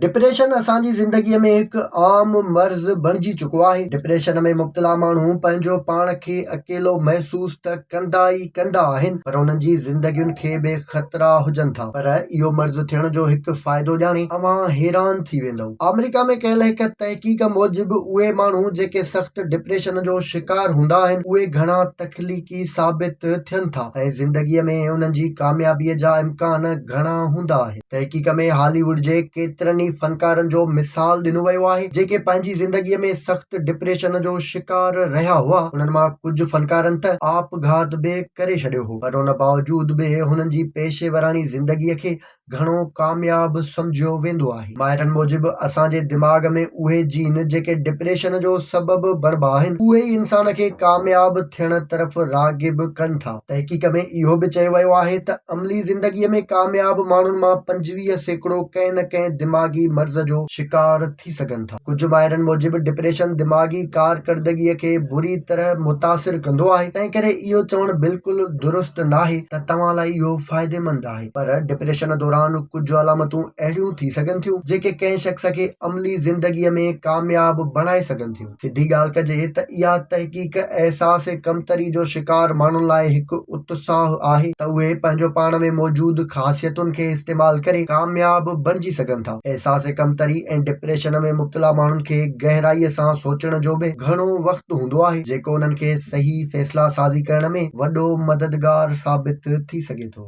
Depression اسان جي زندگيء ۾ هڪ عام مرض بڻجي چڪو آهي. ڊپريشن ۾ مبتلا ماڻهو پنهنجو پاڻ کي اڪيلو محسوس ته ڪندا ئي ڪندا آهن پر انهن جي زندگين کي به خطرا هجن ٿا. پر اهو مرض ٿيڻ جو هڪ فائدو ڄاڻي اوهان حيران ٿي ويندؤ. آمريڪا ۾ ڪيل هڪ تحقيق موجب اهي ماڻهو جيڪي سخت ڊپريشن جو شڪار هوندا آهن اهي گهڻا تخليقي ثابت ٿين ٿا ۽ زندگيء ۾ انهن جي ڪاميابيء جا امڪان گهڻا هوندا آهن. تحقيق ۾ هالي ووڊ جي ڪيترن ئي فنڪارن جو مثال ڏنو ويو آهي جيڪي پنهنجي زندگي ۾ سخت ڊپريشن جو شڪار رهيا هئا انهن مان ڪجهه فنڪارن ته آپگهات به ڪري ڇڏيو هو پر ان باوجود به هنن جي پيشيوراڻي زندگي کي گهڻو ڪامياب سمجهيو ويندو آهي ماهرن موجب اسان جي دماغ ۾ اهي جين جيڪي ڊپريشن جو سبب بڻبا آهن اهي ئي انسان کي ڪامياب ٿيڻ طرف راغب ڪن ٿا. تحقيق ۾ اهو به چيو ويو آهي ته عملي زندگيء ۾ ڪامياب ماڻهن مان پنجويهه سيڪڙو ڪنهن نه ڪنهن دماغي مرض جو شڪار ٿي سگهن ٿا. ڪجهه ماهرن موجب ڊپريشن دماغي ڪارڪردگيء کي بري طرح متاثر ڪندو آهي، تنهنڪري اهو چوڻ بلڪل درست ناهي ته توهان لاء اهو فائديمند آهي. پر ڊپريشن دوران ڪجهه علامتون اهڙيون ٿي سگهن ٿيون، جيڪي ڪنهن شخص کي عملي زندگيء ۾ ڪامياب بڻائي سگهن ٿيون. سڌي ڳالهه ڪجي ته اها تحقيق احساس ڪمتري جو شڪار ماڻهن لاء هڪ اتساهه آهي ته اهي پنهنجو پاڻ ۾ موجود خاصيتن کي استعمال ڪري ڪامياب بڻجي سگهن ٿا. احساس ڪمتري ۽ ڊپريشن ۾ مبتلا ماڻهن کي گهرائي سان سوچڻ جو به گهڻو وقت هوندو آهي جيڪو انهن کي صحيح فيصلا سازي ڪرڻ ۾ وڏو مددگار ثابت ٿي سگهي ٿو.